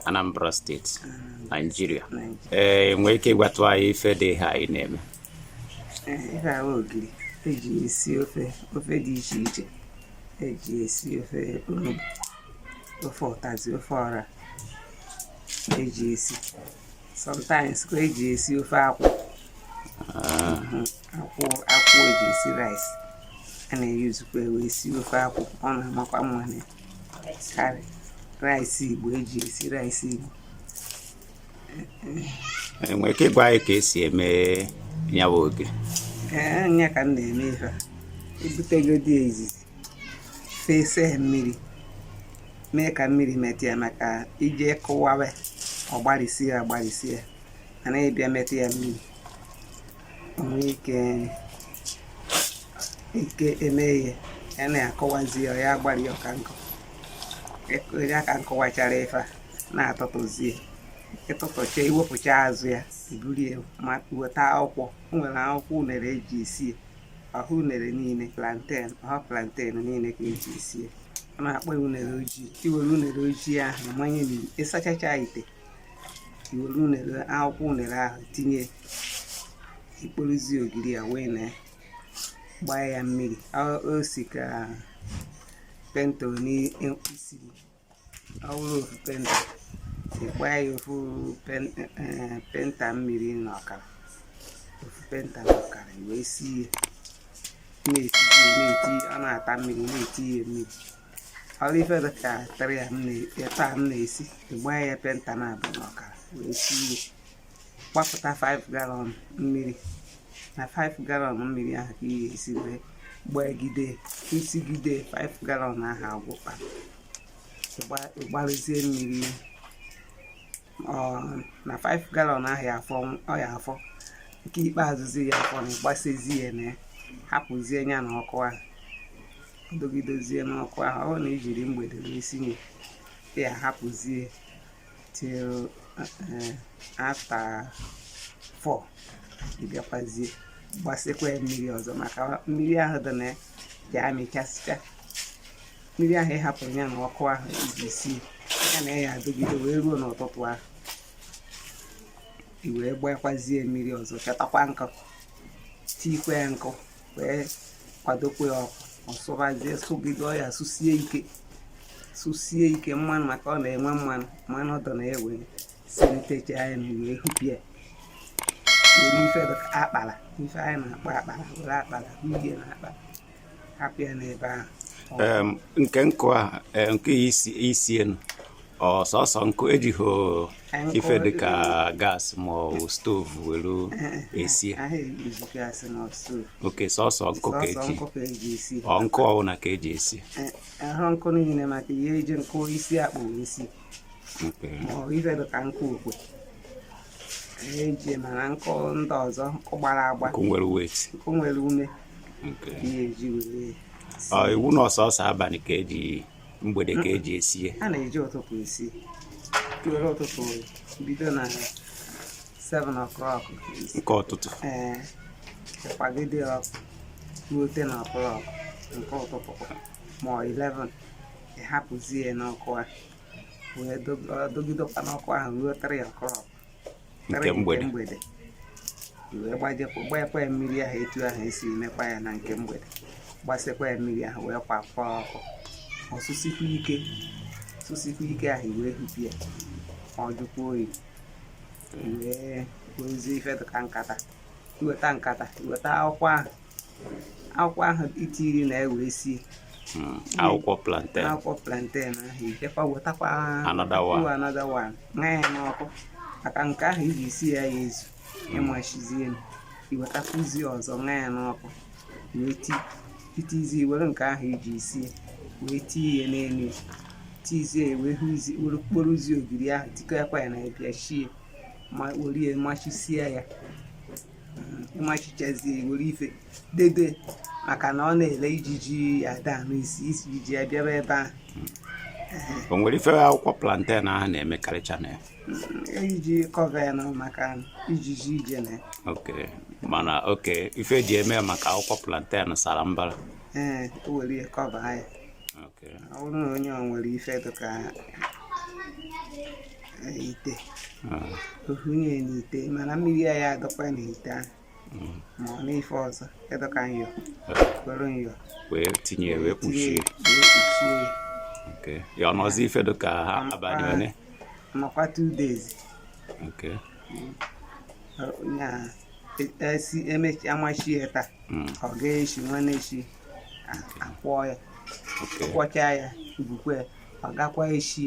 Anambra steeti Naijiria ị nwere ike ịgwatụ anyị ife dị ha anyị na-eme ife a wụ ogiri eji esi ofe ofe dị iche iche eji esi ofe onugbu ofe ụtazi ofe ọra eji esi sometimes ka eji esi ofe akwụ ah. mhm. akwụ akwụ eji esi rice a na-eyuzukwa wee esi ofe akwụ ọ na-amakwa mma na karị rice igbo eji esi rice igbo ị nwere ike ịgwa anyị ka esi eme ya bụ ogiri ee eh, nya ka m na-eme ife a ibutegodi ya izizi fesa ya mmiri mee ka mmiri metụ ya maka ije kụwawe ọ gbarịsie ya gbarịsie ya mana ịbịa metụ ya mmiri nwee ike ike eme ihe ya na-akụwazi ya ọ ya agbari ọka nkụ ya ka m kụwachara ife a na-atụtụzie ịtụtụcha iwepụcha azụ ya iburu ya ma weta akwụkwọ o nwere akwụkwọ unere eji esi ya ọhọ unere niile plantain ọhọ plantain niile ka eji esi ya a na-akpọ ya unere ojii iwere unere ojii ahụ manye n'ite ịsachacha ite iwere unere akwụkwọ unere ahụ tinye ikporozie ogiri a wụnye gbaa ya mmiri o si ka penta one isiri ọwụrụ ofu penta ịgbaa ya ofu penta mmiri na ọkara ofu penta na ọkara wee sie ya na-eti na-eti ọ na-ata mmiri na-etinye mmiri ọrụ ife dịka tara ya taa m na-esi ịgbaa ya penta naabọ na ọkara wee sie ya gbapụta 5 galọn mmiri na 5 galọn mmiri ahụ ka i ya esi wee gbagide isigide 5 galọn ahụ agwụkpọ ịgbarụzie mmiri na 5 galọn ahụ ya afọ ọ ya afọ nke ikpeazụzi ya afọ na ịgbasazi ya na hapụzie ya na ọkụ ahụ dogidozie n'ọkụ ahụ ọ na ijiri mgbede wee sinye ya hapụzie till eh, after 4 ị bịakwazie gbasakwa ya mmiri ọzọ maka mmiri ahụ dị na ya ya amịchasịcha mmiri ahụ ịhapụrụ ya na ọkụ ahụ iji sie ya na ya adịgide wee ruo n'ụtụtụ ahụ i wee gbakwazie mmiri ọzọ chọtakwa nkụ tikwa ya nkụ wee kwadokwa ya ọkụ ọ sụbazie sụgide ọ ya sụsie ike sụsie ike mmanụ maka ọ na-enwe mmanụ mmanụ ọ dọ na ya wee silitecha ya mmiri wee hụpụ ya were ife akpala ife anyị na-akpọ akpala were akpala uhie na akpala hapụ ya n'ebe ahụ nke nkụ a e, nke isi enu ọ sọsọ nkụ ejighị ife dịka gas ma ọ bụ stove were esi okay sọsọ nkụ ka eji ọ nkụ ọbụla ka eji esi ahụ nkụ niile maka ihe eji nkụ isi akpụ isi ma ọ ife dịka nkụ okwe eji mana nkụ ndị ọzọ nkụ gbara agba nkụ nwere weight nkụ nwere ume ihe eji were iwu na ọ sọsọ abalị ka eji mgbede ka eji esie a na-eji ụtụtụ esi were ụtụtụ bido na 7 o'clock nke ụtụtụ ee kwagide ọkụ ruo 10 o'clock nke ụtụtụ ma 11 ị hapụzie n'ọkụ a wee dọgidekwa n'ọkụ ahụ ruo 3 o'clock nke mgbede wee gbanyekwa ya mmiri ahụ etu ahụ esi emekwa ya na nke mgbede gbasịkwa ya mmiri ahụ wee kwakwa ọkụ ọ sụsikwa ike sụsikwa ike ahụ wee hụpụ ya ọ jụkwa oyi wee wezie ife dịka nkata i weta nkata i weta akwụkwọ ahụ akwụkwọ ahụ i tiri na e wee sie hmm, akwụkwọ plantain akwụkwọ plantain ahụ i jekwa wetakwa another one ṅaa ya n'ọkụ maka nke ahụ i ji sie aya ezu hmm. ị machizie i wetakwuzie ọzọ ṅaa ya n'ọkụ wee i tizie were nke ahụ i ji sie wee tie ya n'elu tizie wee hụzie were kporozie ogiri ahụ tikọkwa ya na ya bịa shie ma were machisie ya ị machichazie were ife dede maka na ọ na-ele ijiji ada anụ isi ijiji ya bịaba ebe ahụ o nwere ife akwụkwọ plantain ahụ na-emekarịcha na ya i ji mm, cover ya na maka ijiji ije na ya okay mana okay ife eji eme maka akwụkwọ plantain sara mbara ee o were ya cover ya ọ bụrụ na onye ọ nwere ife dịka ite ọ hụnye ah. n'ite mana mmiri aya adọkwa n'ite ahụ mm. ma ọ n'ife ọzọ dọ ka nyọ were ah. nyọ wee tinye wee kpuchie ya ọ nọzi ife dịka abalị ole nọkwa two days esi emechi a machie ya taa mm. ọ gaa echi nwanne echi a kwọọ ya kwọchaa ya bukwe ọ gakwa echi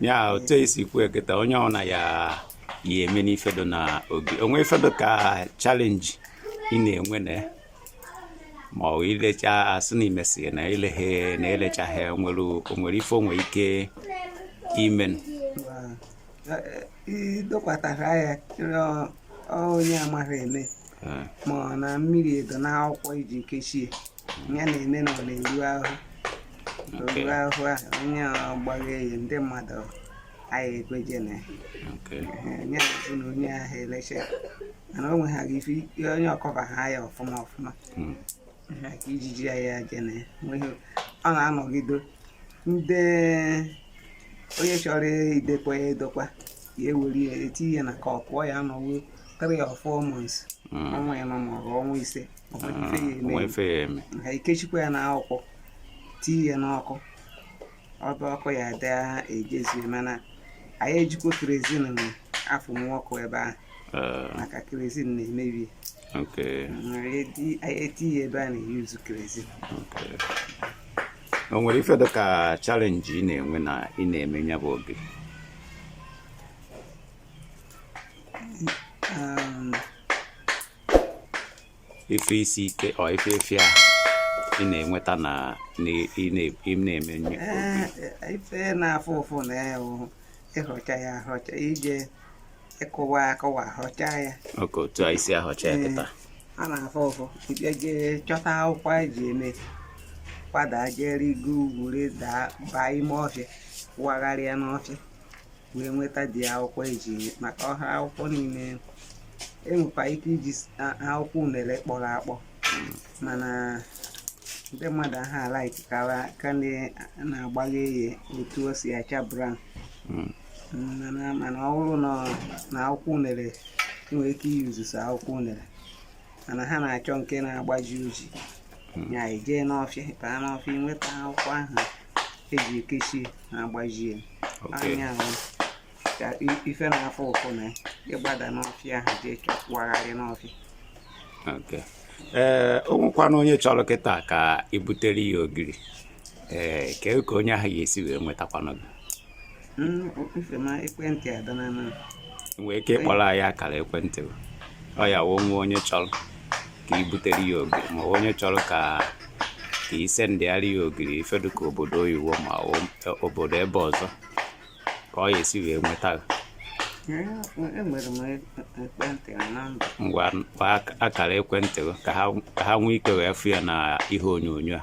ya otu esi kwu kịta onye ọna ya ya eme n'ifedo na obi o nwe ife dụ ka chalenji ị na-enwe na ya ma ọ ilecha asị na imesi na ileghe na elechaghị nwere o nwere ife o nwe ike imen idokwatara ya onye amaghị eme ma ọ na mmiri edo na akwụkwọ eji kechie ya na-eme na ọ na-eru ahụ oru ahụ a onye ọgbaghị eyi ndị mmadụ anyị ekweje na ya ya bụ na onye ahụ eleche mana o nweghara ife onye ọkọba ha ya ọfụma ọfụma hmm. ha ka ijiji ya ya je na ya nweghị ọ na-anọgido ndị onye chọrọ idokwa ya edokwa ya ewere ya etinye ya na ka ọ pụọ ya anọwo 3 or 4 months ọnwa ịnọ maọbụ ọnwa ise o nwe ife ya eme ha ekechikwa ya n'akwụkwọ tii ya n'ọkụ ọba ọkụ ya dị ejezie mana anyị ejikwa kerezin na-afụ ọkụ ebe ahụ eh. maka kerezin na-emebi ya eti ya ebe a na-eyuzu kerezin o nwere ife dịka chalenji ị na-enwe na ị na-eme ya bụ oge ife isi ike ọ ife efi a ị na-enweta na ị na-eme nyo eh, ife na-afụ ụfụ na ya bụ ịhọcha ya ahọcha ije ịkụwa akụwa ahọcha ya oke otu a e si ahọcha ya eh, kịta a na-afụ ụfụ ịbịa jee chọta akwụkwọ eji eme gbada jee rịgo ugwu rịda baa ime ọfịa wagharịa n'ọfịa wee nweta the akwụkwọ eji maka ọ ha akwụkwọ niile enwekwa ike iji akwụkwọ unere kpọrọ akpọ mana ndị mmadụ aha alaiki ka ndị na-agbaghị eye otu o si acha brown hmm. mana ọ bụrụ na akwụkwọ unere nwere ike iyuzu akwụkwọ unere mana ha na-achọ nke na-agbaji oji hmm. ya ị jee n'ọfịa baa n'ọfịa nweta akwụkwọ ahụ eji ekechi na agbajie anya ahụ ka ife na-afụ ụfụ na ịgbada n'ọfịa ahụ jee chọkwagharị n'ọfịa ee o nwekwanụ onye chọrọ kịta ka i butere ya ogiri ee kee ka onye ahụ ya-esi wee nwetakwanụ gị nwee ike ịkpọrọ anyị akara ekwentị ọ ya wụ ma onye chọrọ ka i butere ya ogiri ma onye chọrọ ka i sendịara ya ogiri ife dụ ka obodo oyiwo ma e, obodo ebe ọzọ ka ọ ya esi wee nweta ngwa akara ekwentị ka ha nwee ike wee fụ ya na ihe onyonyo a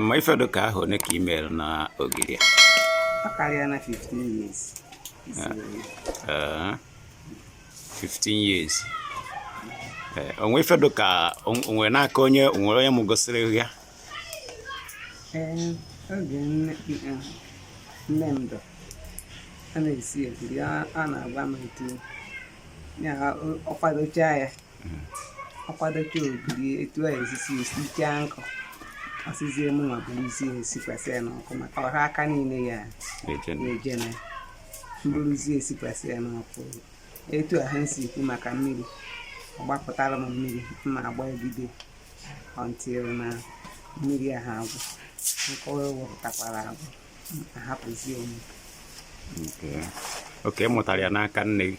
ma ife dị ka ahọ one ka ị mere na ogiri a ọ karịana 15 years Ee, 15 years Ee, o nwe ife dị ka o nwe n'aka onye o nwere onye m gosiri gị ya Ee, oge nne m- nne m dọ a na-esi ogiri a a na-agwa m etu ya o- ọ kwadocha ya akwadocha ogiri etu a esisi esicha nkụ ọ sịzie mụnwa buruzie sikwasị ya n'ọkụ maka ọha aka niile ya na-ejene m buruzie sikwasị ya n'ọkụ etu a ha si ekwu maka mmiri ọ gbapụtara m mmiri mma agbagide until na mmiri ahụ agwụ nke ọ wepụtakwara agwụ ahapụzie m okay ị mụtara ya n'aka nne gị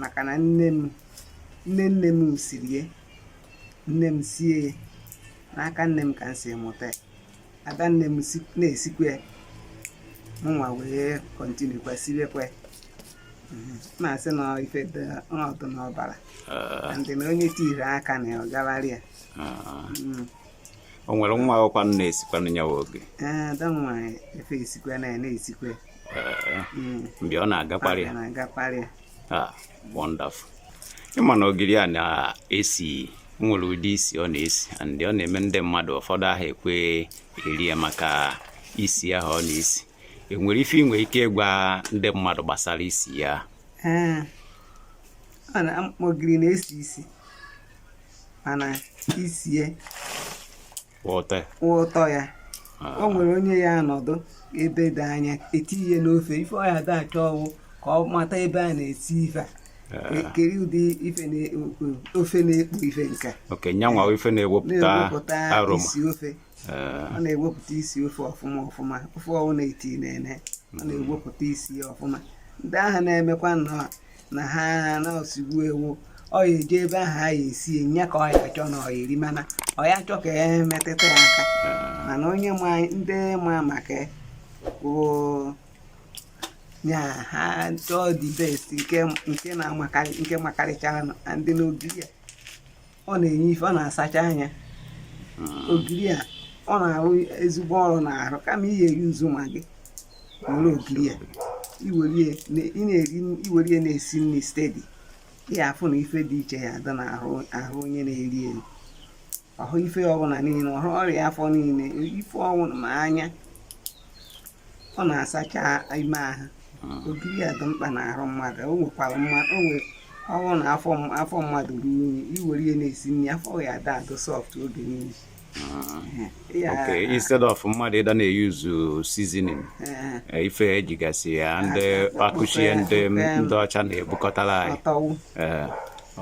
maka na nne m nne nne m siri ya nne m sie ya n'aka nne m ka m si mụta ya ada nne m na-esikwa ya mụnwa wee continue kwa siwekwa ya mhm. na-asị na ife ọ dụ n'ọbara ah. and na onye tiri aka na ọ gawara ya ah. mhm. o nwere nwa akwụkwọ na-esikwanụ ya ogiri eh, ada nwa efe esikwa na ya na-esikwa hmm. mgbe ọ na-agakparị ah, wonderful ị ma na ogiri a na-esi nwere ụdị isi ọ na-esi and ọ na-eme ndị mmadụ ụfọdụ aha ekwe eri ya maka isi ahụ ọ na-esi e nwere ife i nwe ike ịgwa ndị mmadụ gbasara isi ya eh, ogiri na-esi isi mana isi ya wụ ụtọ ya ah. o nwere onye ya anọdụ ebe dị anya etiye n'ofe ife ọ ya da achọ wụ ka ọ mata ebe a na-esi ife a ah. kere ụdị ife ofe na-ekpu ife nke okay nyanwa ife na-ewepụta aroma isi ofe ah. ọ na-ewepụta isi ofe ọfụma ọfụma ofe ọwụna etinene ọ na-ewepụta isi ya ọfụma ndị ahụ na-emekwa nnọọ na ha na-osigbu ewu ọ ya eje ebe ahụ a ya esi nye ka ọ ya achọ na ọ ya eri mana ọ ya achọ ka e metụta ya aka mana onye ma ndị ma maka ya ha chọọ the best nke makarịchara and na ogiri a ọ na-enye ife ọ na-asacha anya hmm. ogiri a ọ na-arụ ezigbo ọrụ n'arụ kama ị ya erizi maggi were ogiri a i were ya na-esi nri steady ị ya afụ na ife dị iche ya adị n'arụ onye na-eri eri ọhụ ife ọbụla niile ọhụ ọrịa afọ niile ife ọwụna ma anya ọ na-asacha ime ahụ hmm. ogiri a dị mkpa n'ahụ mmadụ o nwekwara mmadụ o nwere ọ bụrụ na afọ mmadụ ruo unyi i were ya na-esi nri afọ ya ada adụ soft oge niile hmm. okay instead of mmadụ ịda na-eyuzu seasoning eh, ife ejigasị ya ndị akụchie ndị ọcha na-ebukọtara anyị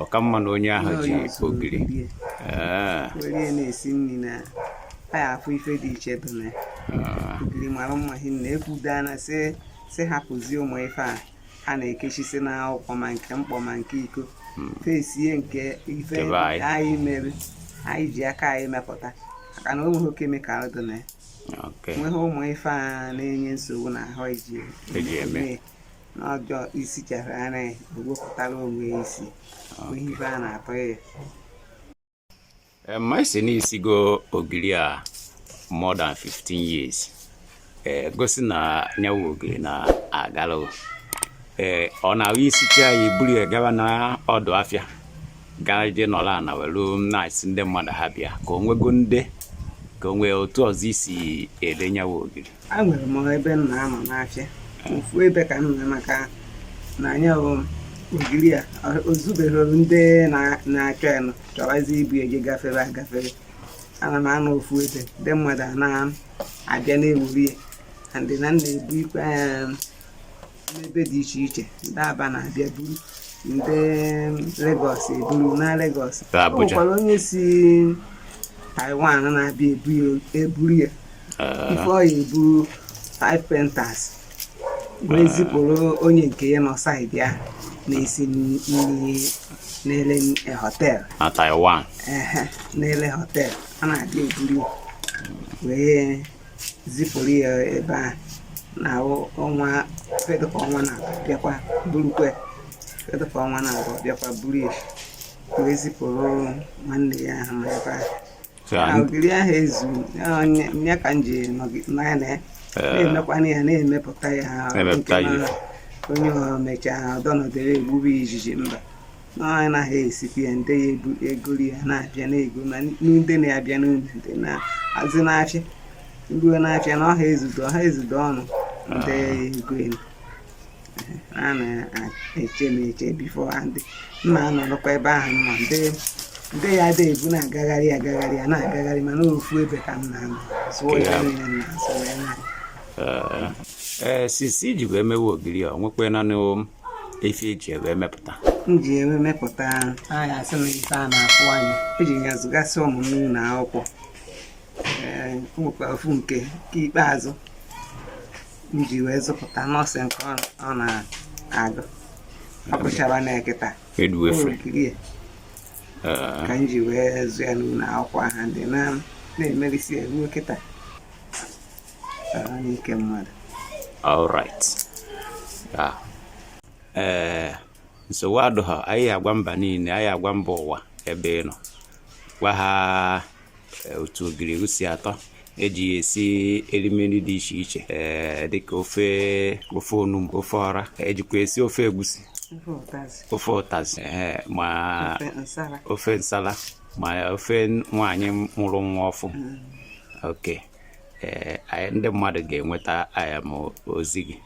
ọ ka mma na onye ahụ ji ogiri were na-esi nri na ya afụ ife dị iche dị na ah. ogiri mara mma hinna ekwudana sị sị hapụzie ụmụ ife a a na-ekechisi na akwụkwọ ma nke mkpọ ma nke iko hmm. fesie nke ife anyị mere anyị ji aka anyị mepụta maka na o nweghị chemical dị na ya nweghị ụmụ ife a na-enye nsogbu na ahụ eji eme n'ọjọọ isi chara ara ya ewepụtara onwe ya isi ihe ibe a na-atọ ya eh, ma ị sị na i sigo ogiri a more than 15 years eh, gosi na nya wụ ogiri na-agala ee eh, ọ na-awụ i sichaa ya i buru ya gaba na ọdụ afịa gaa je nọrọ ana welu na-asị ndị mmadụ ha bịa ka o nwego ndị ka o nwe otu ọzọ i si ele nya wụ ogiri a nwere m ebe m na-anọ n'afịa ofu ebe ka m nọ maka na nya bụ ogiri a o zubeghị ndị na-achọ ya nọ chọwazi ibu ya gị gafere agafere ana m anọ ofu ebe ndị mmadụ a na-abịa na-ewere ya ndị na m na-ebu ikwe n'ebe dị iche iche ndị Aba na-abịa buru ndị Lagos eburu na Lagos o nwekwara onye si Taiwan na-abịa eburu ya ah. ife ọ ya-eburu five painters wee ah. zipụrụ onye nke ya nọ side ya na-esi nri na-ele hotel na Taiwan na-ele hotel a na-abịa eburu wee zipụrụ ya ebe a na ọnwa ife dịka ọnwa na abụọ bịakwa burukwe ife dịka ọnwa na abụọ bịakwa buru ya wee zipụrụ nwanne ya ahụ ma ebe a na ogiri ahụ ezu ya ka m ji nọya na ya na-emekwana ya na-emepụta ya onye mechaa ọdọnọdere egbube ijiji mba anyị naghị esikwa ya ndị ya ebu egoro ya na-abịa na-ego ma ndị na-abịa n'ụlọ ndị na-azụ n'afịa ruo n'afịa na ọha ezudo ọha ezudo ọnụ ndị ya egolu ya na-eche m eche before ha ndị mma anọrọkwa ebe ahụ mma ndị ndị ya ada ebu na-agagharị agagharị ya na-agagharị mana ofu ebe ka m na-anọ zụọ ya niile na-azụ ya na ee since i ji wee mewe ogiri a nwekwa nanị efi eji ewe mepụta m ji ewe mepụta anyị asị na ife a na-afụ anya eji ya zụgasị ụmụ m n'ụlọ akwụkwọ nwekwa ofu nke nke ikpeazụ m ji wee zụpụta nọọsụ nke ọ na-agụ ọ gụchara na ekịta ogiri ka m ji wee zụ ya n'ụlọ akwụkwọ ha dị na-emerisi eruo kịta ee eh, nsogbu adụghọ anyị agwa mba niile anyị agwa mba ụwa ebe ị nọ gwa ha eh, otu ogiri si atọ eji ya esi erimeri dị iche iche ee eh, dịka ofe ofe onugbu ofe ọra ejikwa esi ofe egusi ofe ụtazị ma ofe nsala ma ofe nwaanyị mụrụ nwa ọfụ mm. okay ee ndị mmadụ ga-enweta aya m ozi gị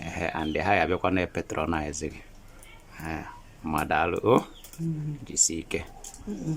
ee and ha ya abịakwa na patronize gị ee mma daalụ o mm-hmm. jisi ike mm-hmm.